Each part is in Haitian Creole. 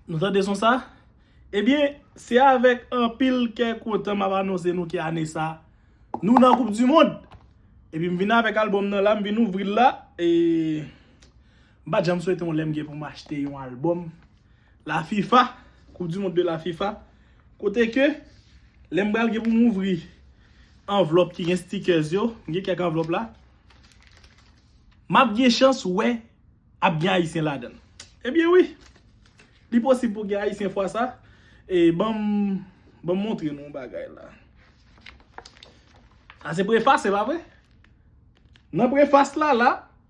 Nou tande son sa? Ebyen, se avèk anpil kè kontan map anonse nou ke ane sa, nou nan koup di mond! Epi m vin avèk albòm nan la, m vin ouvri l la, e m pa janm swete yon lè m gen pou m achte yon albòm. La fifa, koup di mond de la fifa, kote ke lè m pral gen pou m ouvri anvlòp ki gen stickers yo, m gen kèk anvlòp la, m ap gen chans wè ap gen ayisyen ladan l. Ebyen wi, li posib pou gen ayisyen fwa sa, e ban m ban m montre nou yon bagay la. Sa se prefas se pa vre? Nan prefas la la.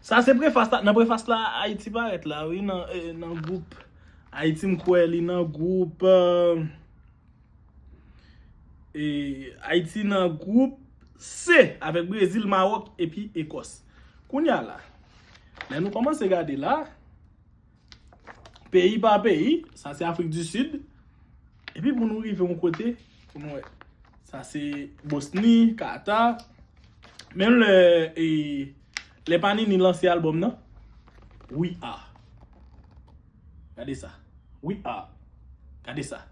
Sa se prefas la, nan prefas la Ayiti parèt la wi nan gwoup Ayiti m kwè li nan gwoup Ayiti nan gwoup C avèk Brezil, Mawòk epi Ekòs. Kounya la, lè nou kòmanse gade la. Peyi pa peyi, sa se Afrik di Sid. Epi pou nou rive yon kote, pou nou wè. Sa se Bosni, Kata. Menm lè, e, lè Panini lanse albòm nan, We Are. Gade sa. We Are. Gade sa.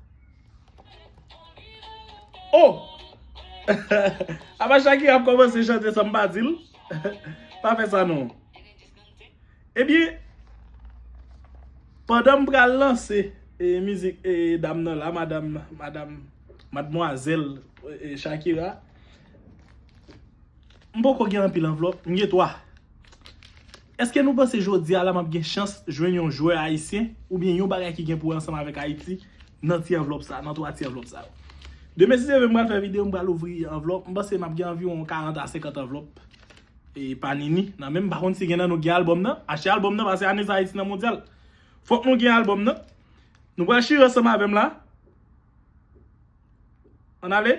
O! Apa Shakira ap kòmanse chante san m pa di l? Pa fè sa non. Ebyen, pandan m pral lanse mizik dam nan la, madam, madam, madmwazèl Shakira, m poko gen anpil anvlòp, m gen 3. Eske nou panse jodi a la m ap gen chans jwenn yon jwè ayisyen oubyen yon bagay ki gen pou wè ansanm avèk Ayiti nan ti anvlòp sa, nan 3 ti anvlòp sa yo? Demen si Dye vle m pral fè videyo, m pral ouvri anvlòp, m panse m ap gen anviwon 40 a 50 anvlòp. E panini nan menm pa konn si gen nan nou gen album nan achte album nan pase ane sa ayiti nan mondyal fok nou gen album nan nou pral chire ansanm avem la an ale.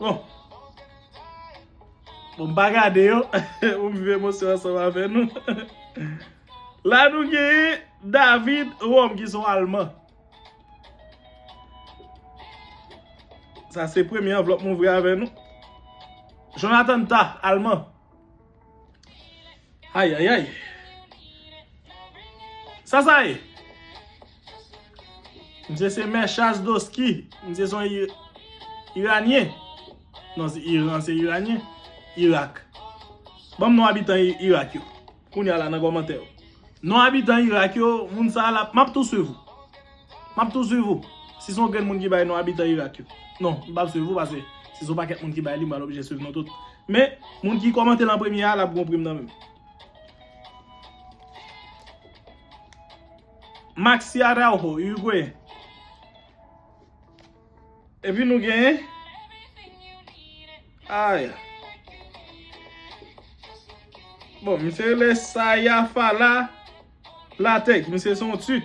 Bon, bon m pa gade yo, m viv emosyon an ansanm avè nou. La nou genyen David Rom ki son alman. Sa se premye anvlòp m ouvri avè nou. Jonathan Tah, alman. Ayayay. Sa sa ye? Misye se Mechaz Doski. Misye son Iranyen. Non se Iran se Iranyen. Irak. Banm non abitan Irak yo. Kounya la nan komantè yo. Non abitan Irak yo. Moun sa la. Map tou swiv ou. Map tou swiv ou. Si son grenn moun ki bay non abitan Irak yo. Non, m pap swiv ou pase si son pakèt moun ki bay li m pral oblije swiv nou tout. Men, moun ki kòmante l an premye a lap gon prim nan menm. Maxi Araujo, Uruguayen. Epi nou gen Aya. Bon, misye rele Saya Fala Lateck. Misye son Turk.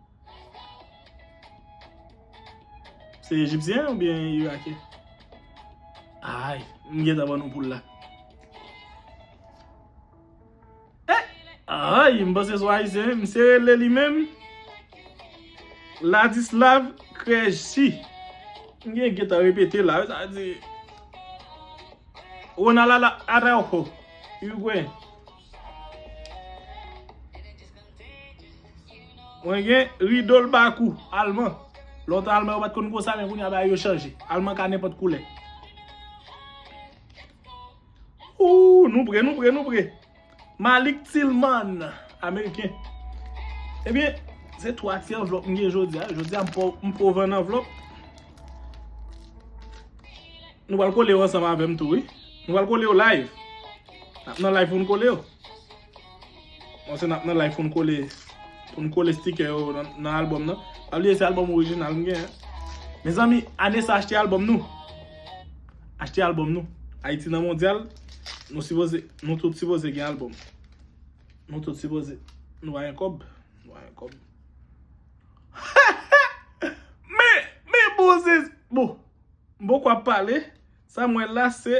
Se Ejipsyen ou byen Irakyen? Ay, m gentan ban nou poul la. Ay, m panse sou Ayisyen. M se rele li menm. Ladislav Krejci. M gen gentan repete la. Sa di. Ronald Araujo. Irigweyen. Mwen gen rido l bakou alman. Lontan alman yo pat konn konsa men kounya bagay yo chanje. Alman ka nenpòt koulè. Ooh nou pre nou pre nou pre. Malik Tillman ameriken. Ebyen se 3 ti anvlòp m gen jodi a. Jodi a m pou ouvè 1 anvlòp. Nou pral kole yo ansanm avèm tou wi. Nou pral kole yo live. Nap nan live pou nou kole yo. Bon se nap nan live pou nou kole pou nou kole sticker yo nan album nan. Pa bliye se album original m gen. Mezanmi ane sa achte album nou. Achte album nou. Ayiti nan mondyal nou sipoze nou tout sipoze gen album. Nou tout sipoze nou va gen kob. Nou va gen kob. Men men bon se bon m poko ap pale sa m wè la se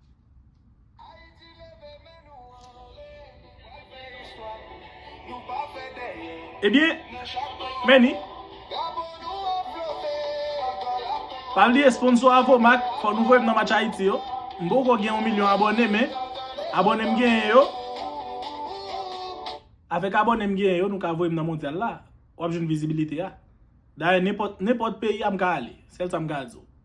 Ayiti leve men nou anle nou pral fè istwa nou pa fè dèyè Ebyen nan chak pwen nou Many Drapo nou ap flote ankò lap tonbe Pa bliye sponsor Avomac fò nou voyem nan match Ayiti yo M poko gen yon milyon abòne men abòne m genyen yo Avèk abòne m genyen yo nou ka voyem nan mondyal la wap jwenn vizibilite a Dayè nenpòt nenpòt peyi a m ka ale sèl sa m ka di w.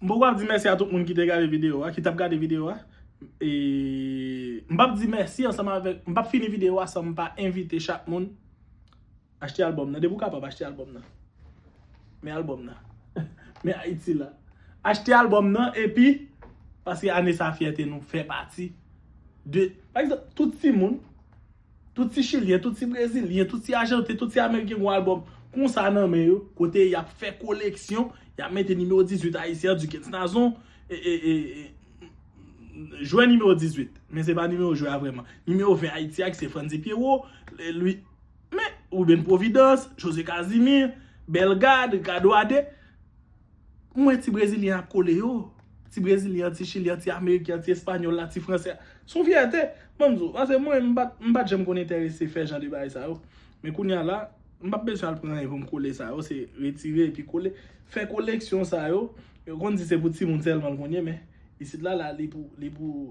M poko ap di mèsi a tout moun ki te gade video a, ki tap gade video a. E m pap di mèsi ansanm avèk, m pap fini video a san m pa envite chak moun achte albòm nan. Depi ou kapab achte albòm nan. Men albòm nan. Men Ayiti la. Achte albòm nan epi paske ane sa fyète nou fè pati de pa egzanp tout timoun. Tout ti chilyen, tout ti brezilyen, tout ti ajanten, tout ti ameriken gon album konsa nan men yo, kote yap fè koleksyon, yap mete nimewo 18 ayisyen an Dukens Nazon jwè nimewo 18, men se pa nimewo jwè a vrèman, nimewo 20 Ayiti a ki se Frantzy Pierrot, Louis men Ruben Providence, José Casimir, Bellegarde, Ricardo Ade. M wè ti brezilyen ap kole yo. Ti brezilyen an, ti chilyen an, ti ameriken an, ti espanyòl la, ti fransè a. Se yon fyète, ban m di w. Pase mwen, m pa m pa t janm konn enterese fè jan de bagay sa yo. Men kounye a la, m pa p bezwen al pran anyen pou m kole sa yo. Se retire epi kole. Fè koleksyon sa yo, yo konn di se pou timoun sèlman l konn ye men isit la la li pou li pou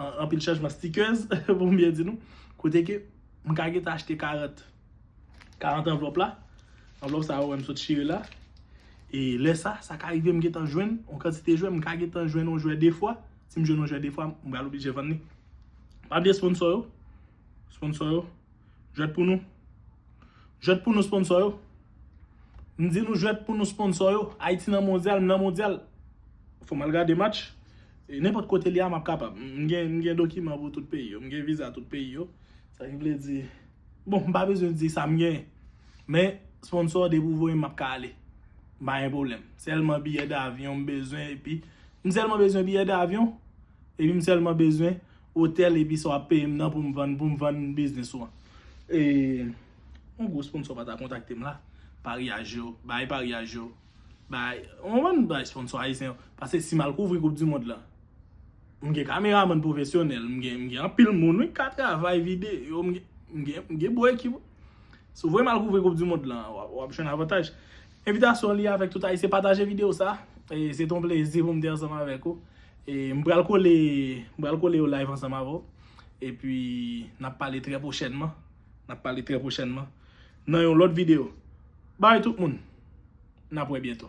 Anpil chanjman stickers pou m byen di nou. Kote ke m ka gentan achte 40. 40 anvlòp la. Anvlòp sa a ou wè m sot chire la. E lè sa, sa ka rive m gentan jwenn yon kantite jwè. M ka gentan jwenn yon jwè 2 fwa. Si m jwenn yon jwè 2 fwa, m pral oblije vann li. Pa bliye sponsò yo. Sponsò yo. Jwèt pou nou. Jwèt pou nou sponsò yo. M di nou jwèt pou nou sponsor yo. Ayiti nan mondyal, m nan mondyal. Fò m al gade match. E nenpòt kote li a m ap kapab. M gen dokiman pou tout peyi yo. M gen viza tout peyi yo. Sa ki vle di, bon m pa bezwen di sa m gen. Men sponsor depi ou voye m m ap ka ale. M pa gen pwoblèm. Sèlman biyè davyon m bezwen epi. M sèlman bezwen biyè davyon. Epi m sèlman bezwen otèl epi sa w ap peye m nan pou m vann biznis ou an. E. Yon gwo sponsò pa ta kontakte m la. Paryaj yo, bay paryaj yo. Bay, ou konprann, bay sponsò ayisyen yo. Pase si m al kouvri koup di mond la. M gen kameramann pwofesyonèl, m gen, m gen anpil moun wi k ka travay vide yo, m gen, m gen, m gen bon ekip wi. Si w voye m al kouvri koup di mond la, w ap jwenn avantaj. Envitasyon li avèk tout ayisyen. Pataje videyo sa. E se te yon plezi pou m te ansanm avèk ou. E m pral kole, m pral kole yon live ansanm avè w. E pi n ap pale trè pwochènman. Nap pale trè pwochènman nan yon lòt video. Bye tout moun. Nap wè byento.